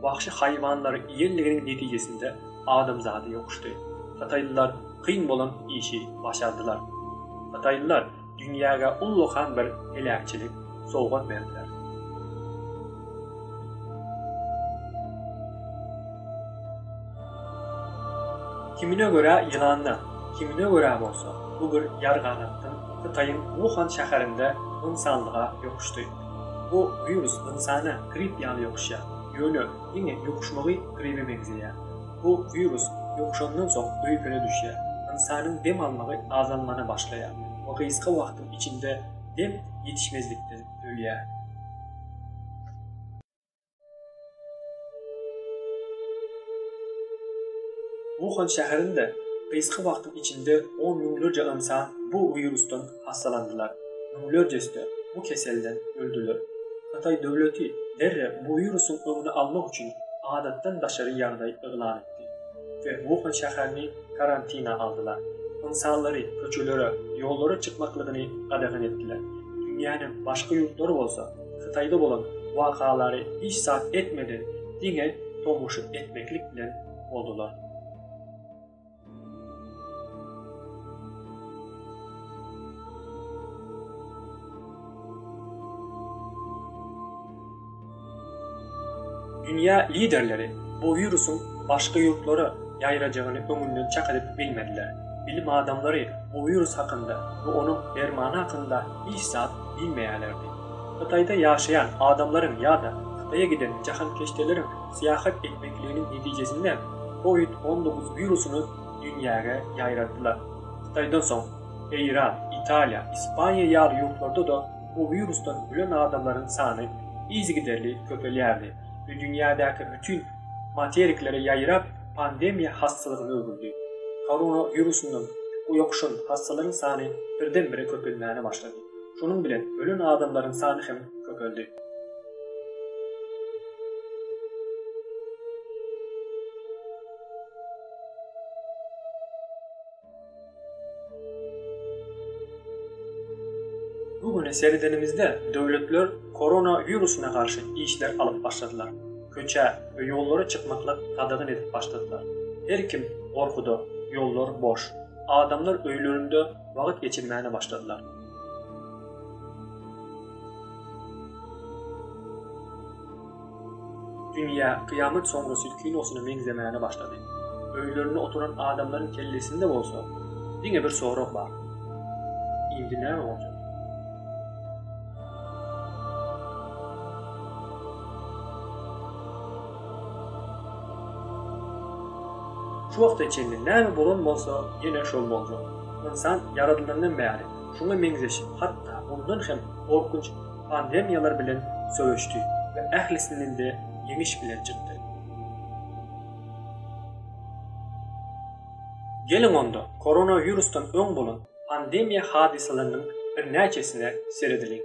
Wagşy haýwanlary iýenliginiň netijesinde adamzady ýokuşdy. Hytaýlylar kyn bolan işi başardylar. Hytaýlylar dünýäge ullakan bir heläkçilik sowgat berdiler. Kimine görä ýylandan, kimine görä bolsa bu bir ýarganatdan Hytaýyň Wuhan şäherinde ynsanlyga ýokuşdy. Bu wirus ynsana grip ýaly ýokuşýar, ýöne diňe ýokuşmagy gribe meňzeýär. Bu wirus ýokuşandan soň öýkene düşýär, ynsanyň dem almagy azalmana başlaýar we gysga wagtyň içinde dem ýetişmezlikden ölýär. Wuhan şäherinde gysga wagtyň içinde on müňlerçe ynsan bu wirusdan hassalandylar, müňlerjesi-de bu keselden öldüler. Hytaý döwleti derrew bu wirusyň öňüni almak üçin adatdan daşary ýagdaý yglan etdi we Wuhan şäherini karantina aldylar. Ynsanlary köçelere, ýollara çykmaklygyny gadagan etdiler. Dünýäniň başga ýurtlary bolsa, Hytaýda bolan wakalary hiç zat etmeden diňe tomaşa etmeklik bilen boldular. Dünýä liderleri bu wirusyň başga ýurtlara ýaýrajagyny öňünden çak edip bilmediler. Bilim adamlary bu wirus hakynda we onuň dermany hakynda hiç zat diýmeýärlerdi. Hytaýda ýaşaýan adamlaryň ýa-da Hytaýa giden jahankeşdeleriň syýahat etmekliginiň netijesinde Covid on dokuz wirusyny dünýäge ýaýratdylar. Hytaýdan soň, Eýran, Italiýa, Ispaniýa ýaly ýurtlarda-da bu wirusdan ölen adamlaryň sany yzygiderli köpelýärdi we dünýädäki bütin materiklere ýaýrap, pandemiýa hassalygyna öwrüldi. Korona wirusyndan ýokuşan hassalaryň sany birden-bire köpelmäne başlady. Şonuň bilen ölen adamlaryň sany hem köpeldi. Bu güne seredenimizde döwletler korona wirusyna garşy işler alyp başladylar. Köçä we ýollara çykmaklyk gadagan edip başladylar. Her kim gorkuda, ýollar boş. Adamlar öýlerinde wagt geçirmäne başladylar. Dünýä Kyýamat soňrasy kinosyna meňzemäne başlady. Öýlerinde oturan adamlaryň kellesinde bolsa diňe bir sorag bar. Indi näme boljak? Şu wagta çenli näme bolan bolsa, ýene şol boljak. Ynsan ýaradylandan bäri şuňa meňzeş, hatda mundan hem gorkunç pandemiýalar bilen söweşdi we ählisinden-de ýeňiş bilen çykdy. Geliň onda, koronawirusdan öň bolan pandemiýa hadysalarynyň birnäçesine seredeliň.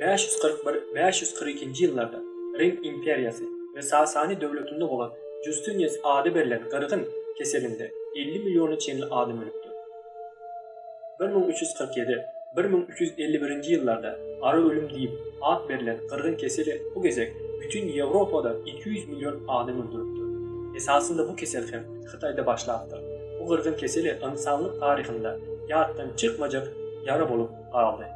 Bäş ýüz kyrk bir, bäş ýüz kyrk ikinji ýyllarda Rim imperiýasy we Sasani döwletinde bolan Justinius ady berlen gyrgyn keselinde elli milliona çenli adam ölüpdir. Bir müň üç ýüz kyrk ýedi, bir müň üç ýüz elli birinji ýyllarda Gara ölüm diýip at berlen gyrgyn keseli bu gezek bütin Ýewropada iki ýüz million adam öldüripdir. Esasynda bu kesel hem Hytaýda başlapdyr. Bu gyrgyn keseli ynsanlyk taryhynda ýatdan çykmajak ýara bolup galdy.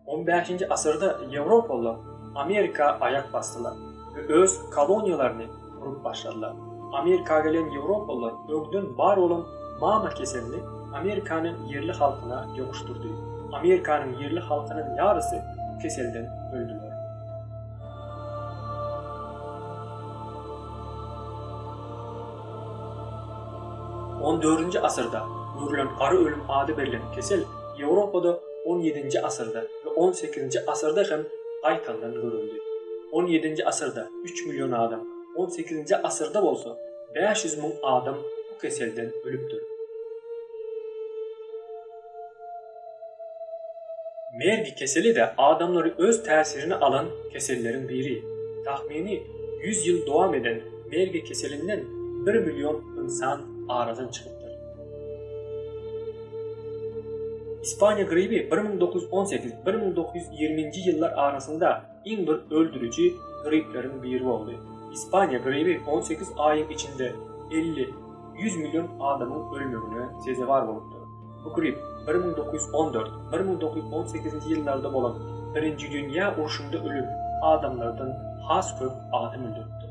On bäşinji asyrda ýewropalylar Amerika aýak basdylar we öz koloniýalaryny gurup başladylar. Amerika gelen ýewropalylar öňden bar bolan mama keselini Amerikanyň ýerli halkyna ýokuşdyrdy. Amerikanyň ýerli halkynyň ýarysy bu keselden öldüler. On dördünji asyrda görülen gara ölüm ady berlen kesel Ýewropada on ýedinji asyrda we on sekizinji asyrda hem gaýtaldan görüldi. On ýedinji asyrda üç million adam, on sekizinji asyrda bolsa bäş ýüz müň adam bu keselden ölüpdir. Mergi keseli-de adamlary öz täsirine alan keselleriň biri. Tahmini ýüz ýyl dowam eden mergi keselinden bir million ynsan aradan çykypdyr. ýaýratdylar. Ispaniýa gribi 1918-1920-nji ýyllar arasynda iň bir öldüriji gripleriň biri boldy. Ispaniýa gribi 18 aýyň içinde 50-100 million adamyň ölmegine sezewar bolupdyr. Bu grip 1914-1918-nji ýyllarda bolan Birinji dünýä urşunda ölen adamlardan has köp adam öldüripdir.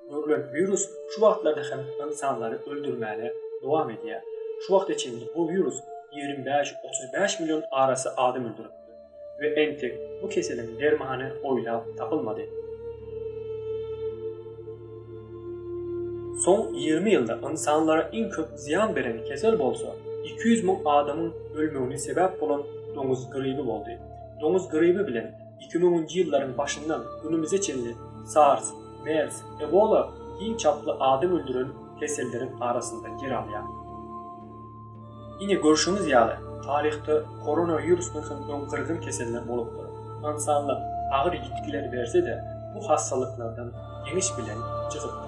görlen wirus şu wagtlarda hem ynsanlary öldürmäne dowam edýär. Şu wagta çenli bu wirus ýigrimi bäş, otuz bäş million arasy adam öldüripdir we entek bu keseliň dermany oýlap tapylmady. Soň ýigrimi ýylda ynsanlara iň köp zyýan beren kesel bolsa, iki ýüz müň adamyň ölmegine sebäp bolan doňuz gribi boldy. Doňuz gribi bilen Iki müňünji ýyllaryň başyndan günümize çenli SARS, mers, ebola iň çaply adam öldüren keselleriň arasynda ýer alýar. Ine, görşüňiz ýaly, taryhda koronawirusdan soň öň gyzgyn keseller bolupdyr. Ynsanlyk agyr ýitgiler berse-de, bu hassalyklardan ýeňiş bilen çykypdyr.